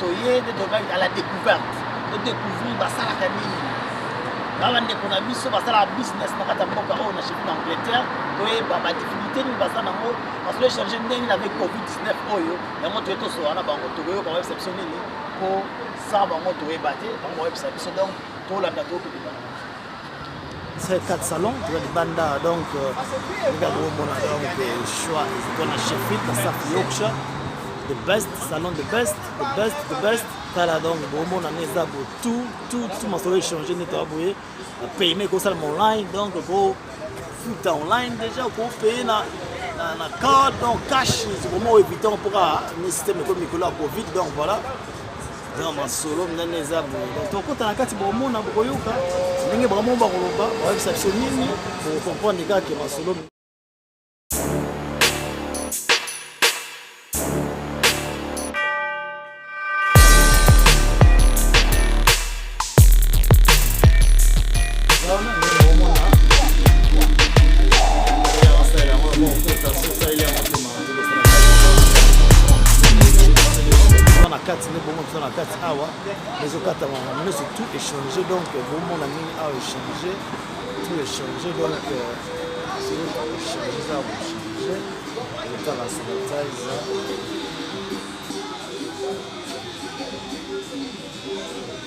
toye nde tokaki à la découverte to découvrir basalaka nini ba bandeko na biso basalaka business na kati ya mboka oyo na chefi na angleterre toyeba badifficulté nini baza nango parce que change ndenge nini avec covid 19 oyo yango toye tosola na bango tokoyoka bayebisa biso nini mpo sans bango toyeba te bango bayebisa biso donc tolanda tokobima très 4 salons toza libanda donc ndako omona donc choix ezalika na sheffield na south yorkshire the best salon the best the best the best tala donc bomona nde eza bo tout tout tout masolo échange nde toza boye na payema ekosalama online donc kofuta online déjà kopaye na na card donc cash komo évitance mpoka ne système ekomi mikolo ya covid donc voilà Vraiment masolo minene eza boye. Donc tokota na kati bomona bokoyoka ndenge bango bakoloba bayebisa biso nini bokomprendre kaka ke masolo na kati nde bongo toza na kati awa ezokatama na nyonso tout échange donc bomona ndenge awa échange tout échange donc échange eza kochange etala sanitize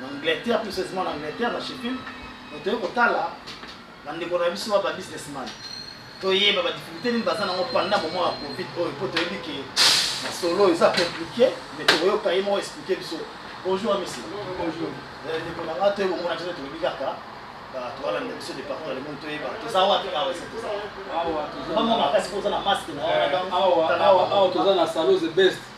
na angleterre plus seulement na angleterre na sheffield donc toye kotala bandeko na biso ba businessman toyeba badifficulté nini baza nango panda moment ya covid oyo mpo toyebi ke masolo oyo eza compliqué mais tokoyoka ye moko explike biso bonjour amisi eh, ndeko na ngai toyeba omona biso tolobi kaka tobalanda biso departement le monde toyeba toza wapi awa esi toza bamwa makasi mpo oza na maske na awa toza na salos best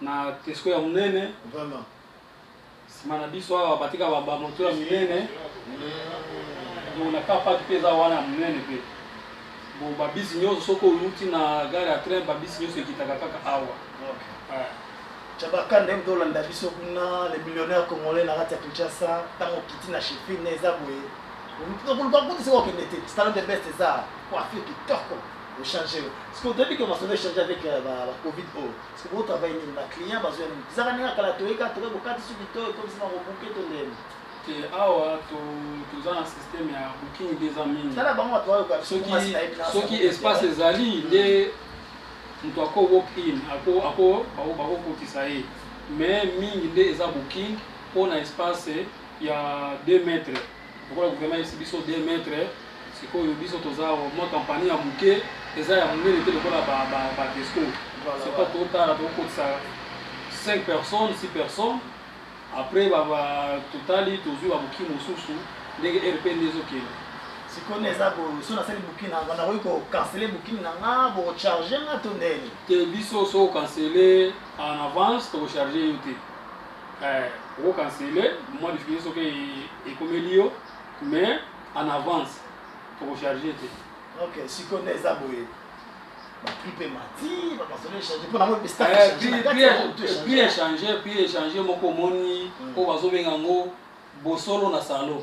na kesko ya monene vraiment sima na biso awa batika ba moto ya minene donc na car park mpe eza wana ya monene mpe bon babisi nyonso soki oluti na gare ya train babisi nyonso ekitaka kaka awa chabaka nde mpe olanda biso kuna le millionnaire congolais na kati ya kinshasa ntango okiti na chefine eza boye koluka kuti soki okende te salon de best eza coiffure kitoko ochange soki otoyebi ke masolo echange avec euh, bacovid oyo sikoyo travail nini ba client bazoya nini bizaka ndenge ya kala toyeka tokoki kokati suki to ekomisi makobuke to ndeni te awa toza na systeme ya booking nde eza mingi tala bango bato bayoka soki espace ezali nde moto ako walk in ako bakokotisa ye mais mingi nde eza booking mpo na espace ya 2 mètres lokola gouvernement esi biso 2 mètre sikoyo biso toza mwa kampani ya moke eza ya monene te lokola badesco soko totala tokokotisa 5 personnes 6 personnes après totali tozwi babuki mosusu ndenge rp nde ezokende sikoyo nde eza so nasali buki na nakoki kokansele buki na nga bocharge nga to ndeni te biso so okansele en avance tokocharge yo te eh, oko cancele mwa difficulté soki ekomeli yo mais en avance tokocharge te ok sikoyo nde eza boye prix mpe mati bapasole echange mpo nango prix echange prix echange moko omoni oyo bazobenga yango bosolo na salon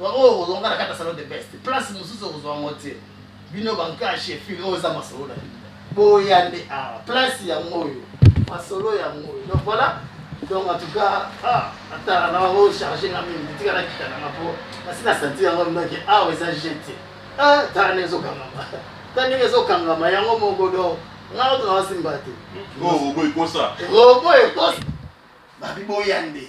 Bango oyo kozonga na kata salon de best. Place mususu okozwa ngo te. Bino bankashi efili oyo eza masolo na bino. Boya nde awa. Place ya ngoyo. Masolo ya ngoyo. Donc voilà. Donc en tout cas, ah, ata na bango charge nga mingi. Tika na kita na nga po. Kasi na sentir yango mino ke awa eza jete. Ah, tala na ezokangama. Tala ndenge ezokangama yango moko donc. Nga oto na wasimba te. Ngo robo ekosa. Robo ekosa. Babi boya nde.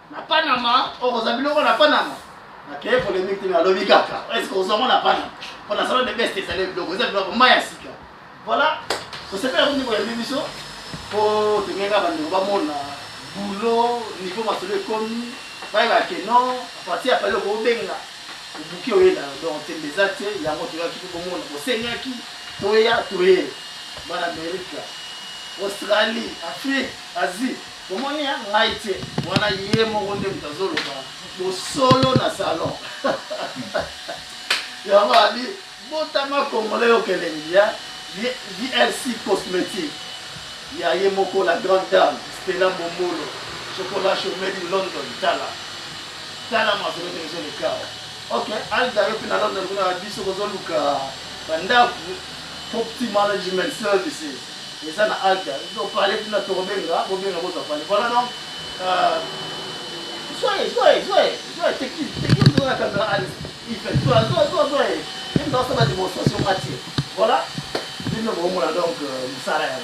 Na Panama, oh, oza biloko na Panama. Na keye polemique te na lobi kaka. Est-ce que oza mona Panama? Pour la salon de best ezali biloko, eza biloko maya sika. Voilà. Osepela kundi ko yambi biso. Po tengeka bando ba mona boulot niveau masolo ekomi. Baye ba ke non, parti ya pale ko benga. Obuki oyela donc tembe eza te yango toyaki ko mona. Osengaki toya toye. Bana Amerika, Australie, Afrique, Asie. Bomoni hein ngai te wana ye moko nde moto azoloba bosolo na salon yango abi botama congolais yo kelengi ya VLC cosmétique ya ye moko la grande dame Stella Momolo chocolat chaud made in London tala tala masolo ndenge ezolekawa ok alda yo mpe na London kuna biso kozoluka bandako property management services Eza na alter ego parler tina toko benga bo benga boza parler voilà donc zoe zoe zoe zoe c'est qui c'est qui dans la caméra allez il fait zoe zoe zoe zoe même dans sa démonstration matière voilà bino bo mona donc musala ya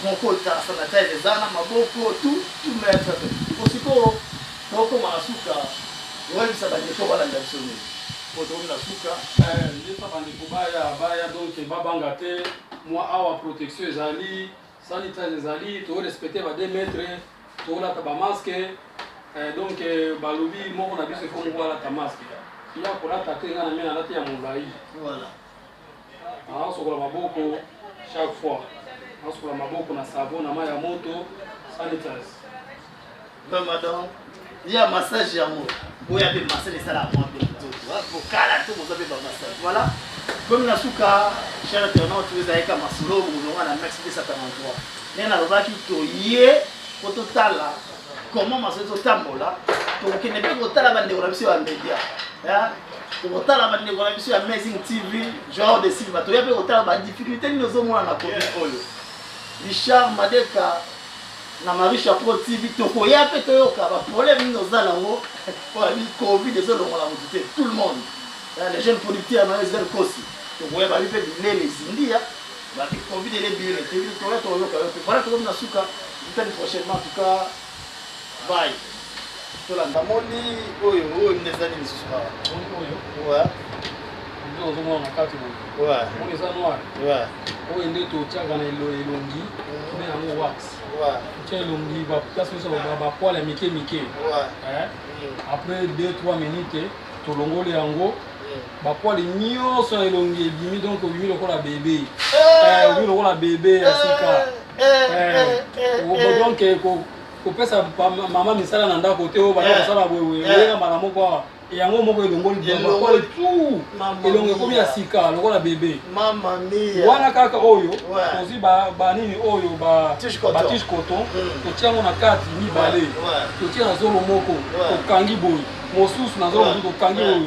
mon code ta sanitize eza na maboko tout tout mettre osiko toko masuka oyebisa ba ndeko balanda biso nini po tokomi na suka nde sa bandeko baya baya donc babanga te mwa awa protection ezali sanitaire ezali to respecter ba 2 mètres to la ba masque eh, donc eh, balobi moko na biso faut moko ta masque ya kolata te nga na mena alati ya molai voilà asokola maboko chaque fois asokola maboko na savon na mai ya moto sanitaire Vraiment donc, il y a massage yango. Vous avez massage et ça la moi bien tout. Vous kala tout vous avez ba massage. Voilà. Comme na suka cher internaute vous avez kama solo vous on a max 243. Mais na loba ki to ye ko to tala comment massage to tambola to kende pe ko tala bande ko biso ba media. Hein? tokotala bandeko na biso ya amazing tv genre de silva toya mpe kotala badifficulté nini ozomona na komi oyo richard madeka Na Marisha Pro TV tokoya pe toyoka ba problème nini oza nango pona bi covid ezo longola mutu te tout le monde eh, les jeunes producteurs na SDL Kosi tokoya babi pe bilele zindia ba bi covid ele bilele te tokoya toyoka yo pe voilà tokomi na suka vitali prochainement en tout cas bye namoni oyo oyo nde ezali lisusu awa nde ozomona na kati boye moni eza noir oyo nde totyaka na elongi nde yango wax tya elongi baplace nyonso bapoil ya mike mike après 2 3 minute tolongoli yango bapoil nyonso ya elongi ebimi donc obimi lokola bebe obimi lokola bebe ya sika donc kopesa mama misala na ndako te oyo bana eh. kosala boye eh. oyeka mbala moko awa yango moko elongoli bilongoli tu elongo ekomi ya sika lokola bebe wana kaka oyo tozwi banini oyo batishe coton hmm. totia yango na kati mibale totia na zolo moko tokangi boye mosusu na zolo mosusu tokangi oyo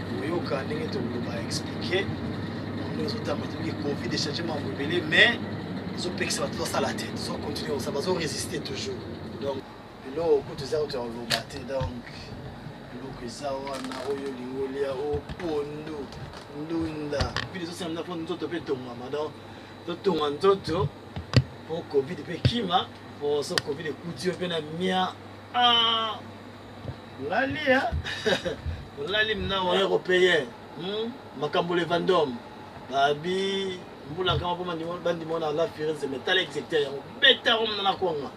koyoka ndenge tokoloba explike ndenge ezotamba toyoki covid echange mambo ebele mais ezopekisa bato basala te tozocontinue kosala bazoresiste toujours donc biloko kutu eza kutu ya koloba te donc biloko eza wana oyo olingi olia o pondu ndunda bino ezosamina mpo nzoto mpe etongama donc totonga nzoto mpo covid mpe kima mpo so covid ekuti yo mpe na mia ah! olali ya olali mna wana kopeye hmm? makambo levandom babi mbula kama mpo bandima wana ala firenze me tala executeur yango beta yango mna na kwanga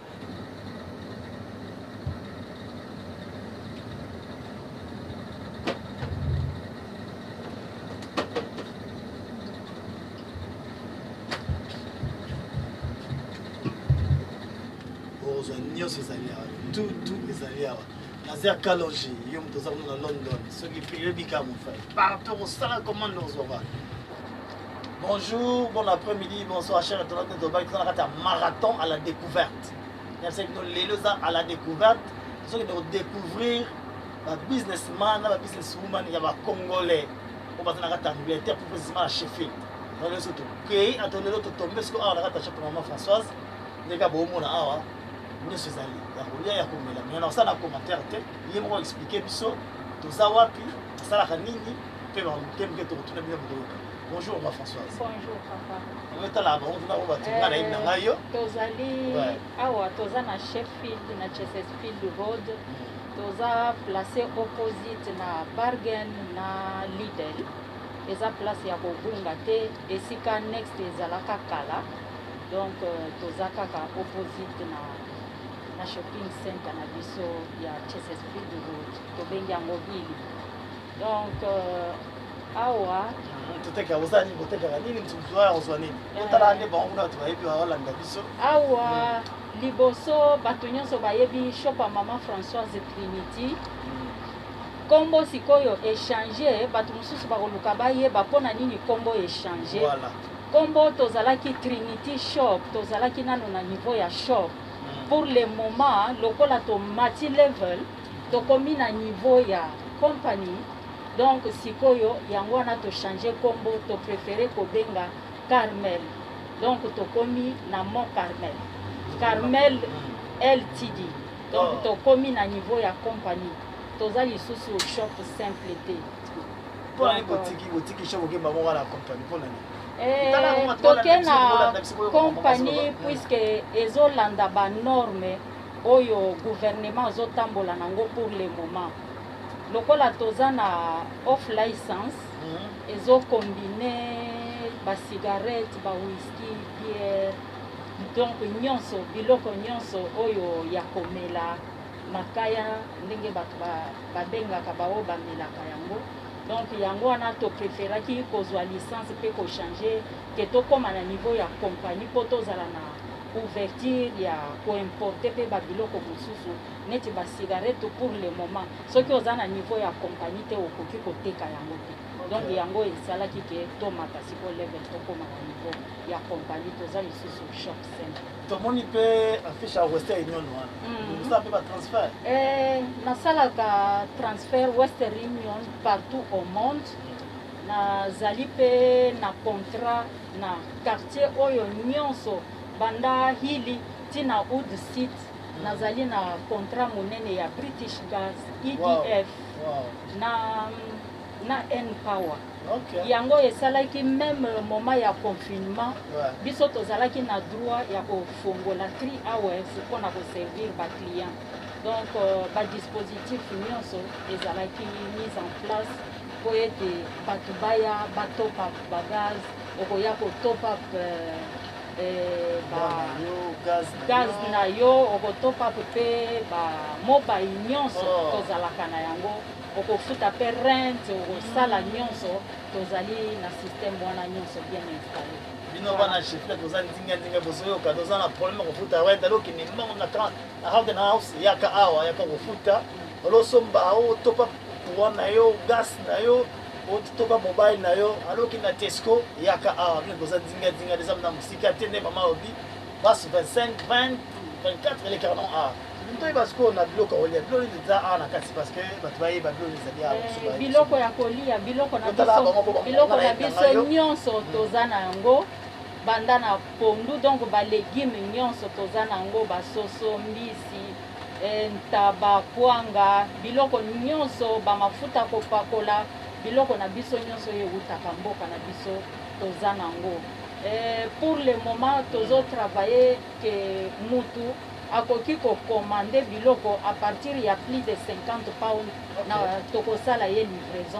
okozwa nyonso ezali awa tout tout ezali awa naza ya kalonge yo moto oza kuna na london soki peyebika mofai partout kosala commande ozwaka bonjour bon après midi bonsoir cher internaute de tobaki toza na kati ya marathon à la découverte yabisaki bino lelo eza à la découverte tozokende kodécouvrir babusinessman na babusiness woman ya bacongolais oyo baza na kati ya angleterre plus précisément na sheffield lelo so tokei ato lelo totombe siko awa na kati ya chape mama françoise ndenge ya boomona awa nyonso ezali ya kolia ya komela me na kosala commentaire te ye moko explike biso toza wapi asalaka nini mpe bamoke moke tokotuna bino bokoyoka bonjour ma françoise bonjour papa oyotala bango tuna oyo batinga na yebi na ngai yo euh, tozali awa toza na sheffield na chesterfield road mm. toza place opposite na bargain na lidel eza place ya kobunga te esika next ezalaka kala Donc euh, toza kaka opposite na na shopping center na biso ya Chesterfield Road tobengi yango Billy. Donc euh, awa totekaka oza nini kotekaka nini mosusu oya kozwa nini otalaka nde bango kuna bato bayebi baolanda biso awa liboso bato nyonso bayebi shop ya mama françoise trinity nkombo sikoyo echange bato mosusu bakoluka bayeba mpo na nini nkombo echange voilà. Kombo tozalaki Trinity Shop, tozalaki nano na niveau ya shop. Pour le moment, lokola tomati level, tokomi na niveau ya company. Donc sikoyo yango wana to changer kombo, to prefere kobenga Carmel. Donc tokomi na Mont Carmel. Carmel LTD. Donc tokomi na niveau ya company. Toza lisusu shop simple te. Mpo na nini botiki botiki show bokeba moko na company mpo na nini? Eh, toke na kompani puiske ezolanda banorme oyo gouvernement azotambola nango pour le moment lokola toza na off license mhm. ezokombine bacigarette bawiski biere donc nyonso biloko nyonso oyo ya komela Makaya ndenge batu ba bengaka ba oyo ba melaka yango donc yango wana to preferaki kozua licence pe ko changer que tokoma na niveau ya compagnie po tozala na ouverture ya ko importer pe ba biloko mosusu neti ba cigarette pour le moment soki oza na niveau ya compagnie te okoki koteka yango te donc yango esalaki ke tomata sikoyo level tokoma na niveau ya compagnie toza lisusu shop simple tomoni mpe affiche ya western union wana mm. osala mpe batransfert eh, nasalaka transfert western union partout au monde nazali mpe na contrat na quartier oyo nyonso banda hili ntina oud site mm. nazali na contrat monene ya british gas edf wow. Wow. na na n power okay. yango esalaki meme moment ya confinement ouais. biso tozalaki na droit ya kofongola 3 hours mpo na koservir baclient donc euh, badispositif nyonso ezalaki mise en place mpo ete bato baya batop up bagaz okoya kotop up euh, euh, gaz na yo okotop up mpe bamobile nyonso oh. tozalaka na yango okofuta mpe rent okosala nyonso tozali na système wana nyonso bien installé bino bana chefle toza ndinga ndinga bozoyoka toza na problème ya kofuta rent alo okende mbango na akende na house yaka awa yaka kofuta olosomba otopa courant na yo gas na yo otopa mobile na yo alo okende na tesco yaka awa bino boza ndinga ndinga eza na mosika te nde mama obi basi 25 20 24 elekaka non a toyeba sikoyo na biloko olia biloko nini eza awa na kati parce que bato bayeba biloko nini ezali awa eh, biloko ya kolia biloko na biloko na biso nyonso hmm. toza na yango banda na pondu donc balegume nyonso toza na yango basoso mbisi eh, ntaba kwanga biloko nyonso bamafuta kopakola biloko na biso nyonso oyo ewutaka mboka na biso toza nango eh, pour le moment tozo travailler que mutu akoki kokomande biloko à partir ya plus de 50 pound na tokosala ye livraison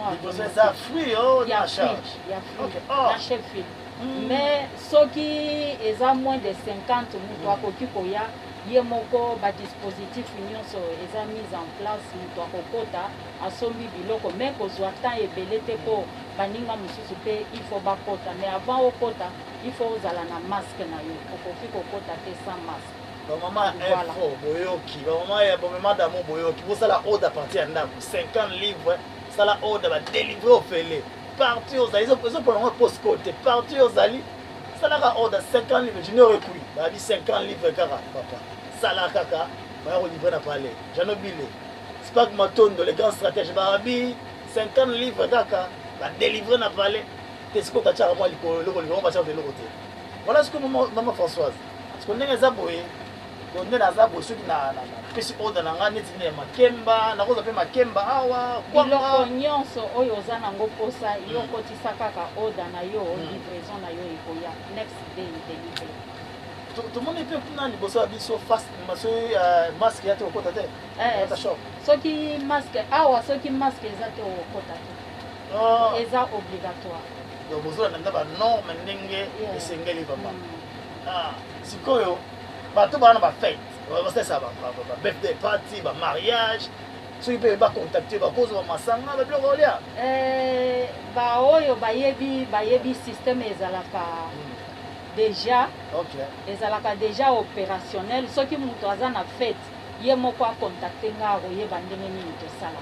ya fruit oh, ya fruit oh. na chefil hmm. mais soki eza moins de 50 moto akoki koya ye moko badispositif nyonso eza mise en place moto akokota asombi biloko mais kozua temps ebele te po baninga mosusu pe il faut bakota mais avant okota il faut ozala na masque na yo okoki kokota te sans masque bamama info boyoki bamama ya bomema damo boyoki bosala ode apartir ya ndako 50 livre sala ode badelivre ofele parti ozali ezopona yango postcode te parti ozali salaka ode 50 livre junior ekui babi 50 livre kaka papa sala kaka baya kolivre na palais jano bile Spark Matondo le grand stratège ba abi 50 livres kaka ba délivrer na palais te siko ka tchaka mwa likolo loko loko ba tchaka loko te voilà ce que maman maman Françoise ce que ndenge za boye donc nde naza boye soki na pesi order na ngai neti nde makemba nakozwa mpe makemba awa biloko nyonso oyo oza nango mposa yo hmm. okotisa kaka order na yo hmm. livraison na yo ekoya next day delivery tomoni mpe kuna liboso ya biso face maso euh, masque ya te okota te Eh, soki masque awa soki masque eza te okota te ah. eza obligatoire donc bozolanda nde banorme ndenge esengeli vraimen mm. ah, sikoyo bato bana bafete basalisa babirthday party bamariage soki mpe bacontacte bakozwa masanga babiloko olia eh, baoyo bayebi bayebi systeme ezalaka mm. déjà ezalaka déjà opérationnel soki moto aza na fete Ye moko a contacter nga akoyeba ndenge nini tosala.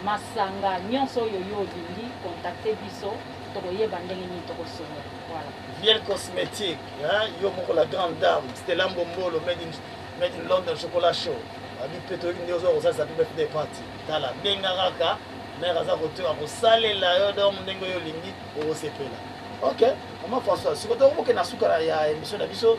Masanga nionso oyo yo olingi contacter biso tokoyeba ndenge nini tokosolola. Voilà. Viel cosmetique, hein? Yo moko la grande dame, Stella Mbombolo made in made in London chocolat chaud. Abi pe toyebi nde ozo kosalisa pe birthday party. Tala benga kaka mère aza kotoka kosalela yo donc ndenge oyo olingi okosepela. Ok, maman François, sikoyo tokokende na suka ya emission na biso.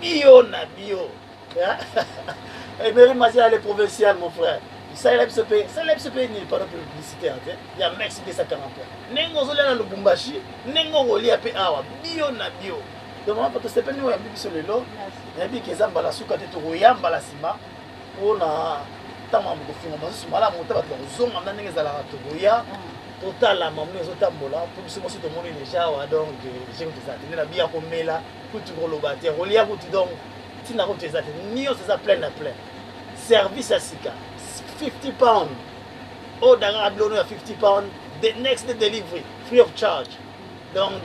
Bio na bio. Emery Mazia le provincial mon frère. salela biso mpe salela biso mpe nini pano publicité ante ya max 243 ndenge ozolia na lubumbashi ndenge okolia mpe awa bio na bio donc mama pato sepeli ndenge oyambi biso lelo nayebi ke eza mbala suka te tokoya mbala nsima mpo na ntango ya kofunga masusu malamu ota bato bakozonga mna ndenge ezalaka tokoya mm. totala mamu ezotambola mpo biso mosi tomoni deja awa donc jeu eza te nde na biya komela kutu koloba te kolia kutu donc ntina kutu eza te nyonso eza plein na plein service ya sika 50 pound oyo oh, dangaka bilono ya 50 pound the next day delivery free of charge donc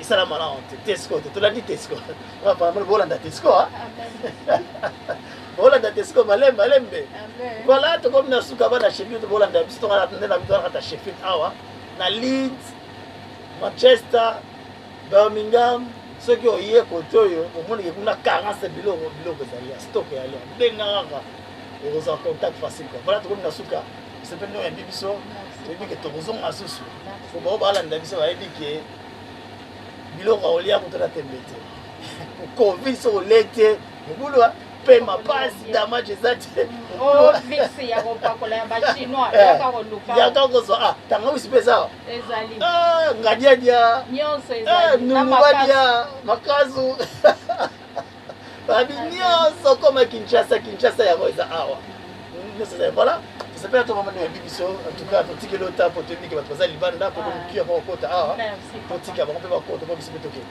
esala malamu te tesco te tolandi tesco bolanda tesco bolanda tesco malembe malembe voilà tokomi na suka bana sheffield bolanda biso tongana nde na biso nakata sheffield awa na leeds manchester Birmingham soki oye kote oyo omonike kuna 40 biloko biloko ezali ya stock ya lyon benga kaka okozwa contact facile quoi voilà tokomi na suka sepeli no yambi biso toyebi ke tokozonga susu po bao balanda biso bayebi ke biloko aolia kutana tembe te covid soki olie te mobulu pema pasi damage eza te oh, yaka kozwa ah, tangawisi mpe eza ah, ngadiadia eh, numubadia makazu babi nyonso koma kinshasa kinshasa yango eza awa nyonso eza voilà sepela to mama ya bibiso en tout cas totikeli ota po toyebike bato baza libanda po bomokiya bakokota awa totika bango mpe bakota po biso mpe tokende